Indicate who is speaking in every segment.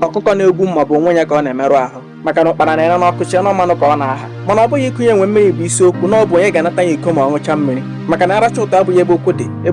Speaker 1: ọkụkọ na-egwu mma ọ bụ onwe ya ka ọ na-emerụ ahụ maka na ụkpara na-ere n'ọkụ chee na mmanụ ka ọ na-aha mana ọ bụghị ikunye enwe mmiri bụ isiokwu na ọ bụ onye ga-anata ya iko ma ọ ṅụcha mmiri maka na ịracha ụtụ abụghị ebe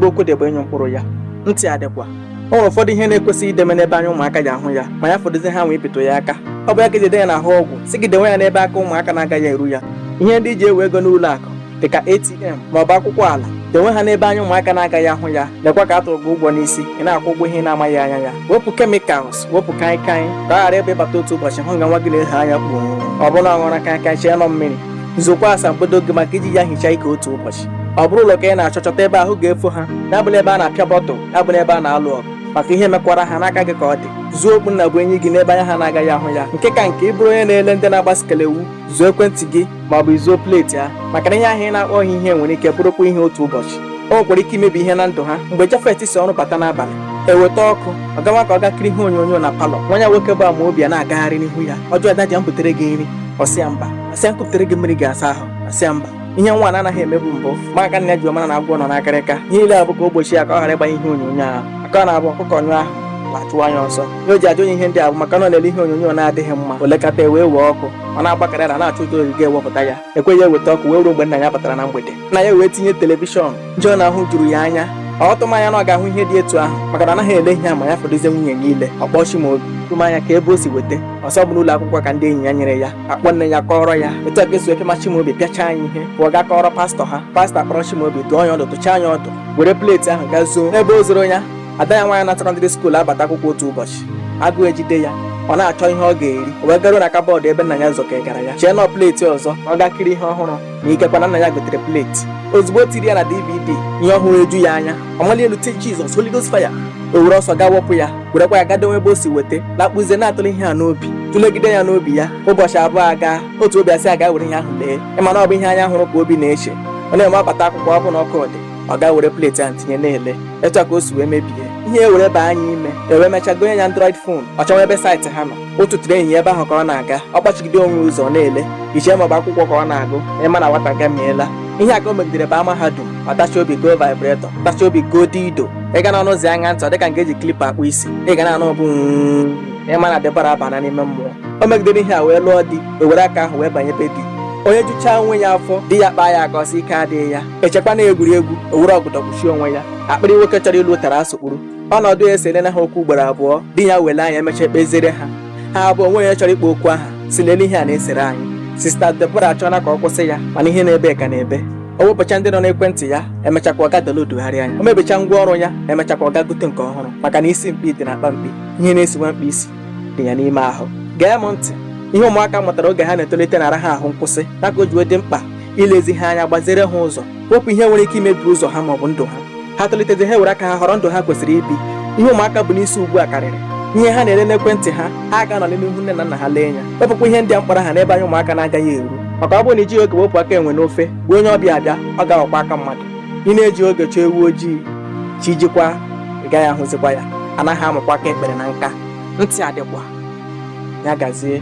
Speaker 1: okwu dị bụ ịnyụ mkpụrụ ya ntị adịkwa o nwere ụfọdụ ihe na-ekwesịghị ideme n'ebe anya ụmụaka ji ahụ ya ma ya fọdụzi ha nwee ịpịtụ ya aka ọ bụ ya ka e ji dee ya n'ahụ ọgwụ sị gị dewe ya n'ebe aka ụmụaka na-agaghị eru ya ihe ndị i ji ewe ego n'ụlọ akụ dịka ATM ma ọ bụ akwụkwọ ala denwe ha n'ebe anya ụmụaka na-agaghị ahụ ya lekwa ka a tụrụ gị ụgwọ n'isi ị na-akwụ ụgwọ ihe ị na-amaghị anya ya wepụ kemikals wepụ kaịkaị ka ọ ghara ịbụ ị bata otu ụbọchị hụ nga nwa gị na-ehe anya kpuo ọ bụrụ na ọ ṅụra kaịkaị chee na ọ mmiri zookwa asambodo gị maka iji ya hichaa ike otu ụbọchị ọ bụrụ ụlọ ka ị na-achọ chọta ebe ahụ ga-efo ha ya abụla ebe a na-apịa bọtụl ya abụla ebe a na-alụ ọgụ maka ihe mekwara ha n'aka gị ka ọ dị zuo okpu nnabuenyi gị n'ebe anya ha na-agaghị ahụ ya nke ka nke ị bụrụ onye na-ele ndị na-agba skelewu zuo ekwentị gị ma ọ bụ i zuo pleti ha maka na ihe ahụ ị na-akpọghị ihe nwere ike bụrụkwa ihe otu ụbọchị o nwekwara ike imebi ihe na ndụ ha mgbe Jafet si ọrụ bata n'abalị eweta ọkụ ọ gawa ka ọ ga kiri ihe onyonyo na palọ nwa ya nwoke bụ Amaobi a na-agagharị n'ihu ya ọ jụọ dadị m butere gị nri ọ sị ya mba ọ sị ya m kupụtere gị mmiri ị ga-asa ahụ ọ sị ya mba ihe nwa a na-anaghị emebu mbụ ma aka nna ya ji mara na agwọ nọ n'akịrịka ihe niile a bụ ka o gbochi ya ka ọ ghara ịgbanye ihe onyonyo ahụ maka ọ na-abụ ọkụkọ nyụọ ahụ ala achụwa ya ọsọ ihe o ji ajụ onye ihe ndị a bụ maka na ọ na-ele ihe onyonyo na-adịghị mma o lekata e wee were ọkụ ọ na-agbagharị na-achọ ụzọ ọ ga-eji ewepụta ya ekweghị eweta ọkụ wee ruo mgbe nna ya batara na mgbede nna ya wee tinye telivishọn ihe ọ na-ahụ juru ya anya ọ tụghị anya na ọ ga-ahụ ihe dị etu ahụ maka na ọ naghị ele ihe a ma ya fọdụzie nwunye ya ile ọ kpọọ Chimaobi jụma ya ka ebe o si weta ọ sị ọ bụ n'ụlọ akwụkwọ ka ndị enyi ya nyere ya a kpọọ nne ya kọọrọ ya etu a ka e si pịama Chimaobi pịachaa ya ihe pụọ ga kọọrọ pastọ ha pastọ akpọrọ Chimaobi dụọ ya ọdụ dụchaa ya ọdụ were pleti ahụ gaa zoo n'ebe o zoro ya ada ya nwaanyị na sekọndịrị skuul abata akwụkwọ otu ụbọchị agụụ ejide ya ọ na-achọ ihe ọ ga-eri o wee garuo na kabọọdụ ebe nna ya zọkegara ya chee na ọ pleti ọzọ ọ ga kiri ihe ọhụrụ na ikekwa na nna ya gotere pleti ozugbo o tiri ya na dvd ihe ọ hụrụ eju ya anya ọ mali elu tie Jizọs Holy Ghost fire o were ọsọ gaa wepụ ya werekwa ya ga dowe ebe o si weta lakpuzie na-atụle ihe a n'obi tụlegide ya n'obi ya ụbọchị abụọ aga otu obi asị ya ga were ihe ahụ lee ị ma na ọ bụ ihe anya hụrụ ka obi na-eche ọ na-eme ọ bata akwụkwọ ọ bụ na ọkụ dị ọ ga were pleti ahụ tinye na-ele etu a ka o si wee mebie ihe a were baa ya ime e wee mechaa gonye ya android fon ọ chọwa ebe saịtị ha nọ otu tụrụ enyi ya ebe ahụ ka ọ na-aga ọ gbachigide onwe ụzọ ọ na-ele i chee ma ọ bụ akwụkwọ ka ọ na-agụ ị ma na nwata agamiela ihe a ka o megidere baa mahadum ọ tachi obi goo vibretọ tachi obi goo dildo ị gaa n'ọnụ ụzọ ya ṅaa ntị ọ dịka nke e ji klipa akpụ isi ị ga na-anụ ọbụ ị ma na Debora abana n'ime mmụọ o megidere ihe a wee lụọ di o were aka ahụ wee banye be di o nyejuchaa onwe ya afọ di ya kpaa ya aka ọ sị ike adịghị ya echekwa na egwuregwu o were ọgọdọ kpuchie onwe ya akpịrị nwoke chọrọ ilo ụtara asụkpụrụ ọnọdụ a eserena ha okwu ugboro abụọ di ya wele anya emecha ekpeziere ha ha abụọ onweghị onye chọrọ ịkpọ okwu aha sị lele ihe a na-esere anyị sista Deborah achọọla ka ọ kwụsị ya mana ihe na-ebe ka na-ebe o wepụcha ndị nọ n'ekwentị ya emechakwa ọ gaa downloadgharịa ya o mebicha ngwa ọrụ ya emechakwa ọ gaa gote nke ọhụrụ maka na isi mkpi dị na akpa mkpi ihe na-esi nwa mkpi isi dị ya n'ime ahụ gee m ntị ihe ụmụaka mụtara oge ha na-etolite na-ara ha ahụ nkwụsị ya ka o ji dị mkpa ilezi ha anya gbazere ha ụzọ wepụ ihe nwere ike imebi ụzọ ha maọbụ ndụ ha ha tolitezi ha were aka ha họrọ ndụ ha kwesịrị ibi ihe ụmụaka bu n'isi ugbu a karịrị ihe ha na-ele n'ekwentị ha ha ga-anọli n'ihu nne na nna ha lee ya wepụkwa ihe ndị a m kpọrọ aha n'ebe anya ụmụaka na-agaghị eru maka ọ bụrụ na i jighị oge wepụ aka enwe n'ofe bụ onye ọbịa abịa ọ ga-aghọkwa aka mmadụ ị na-eji oge chọọ ewu ojii chi jikwa ị gaghị ahụzikwa ya anaghị amụkwa aka ekpere na nka ntị adịkwa ya gazie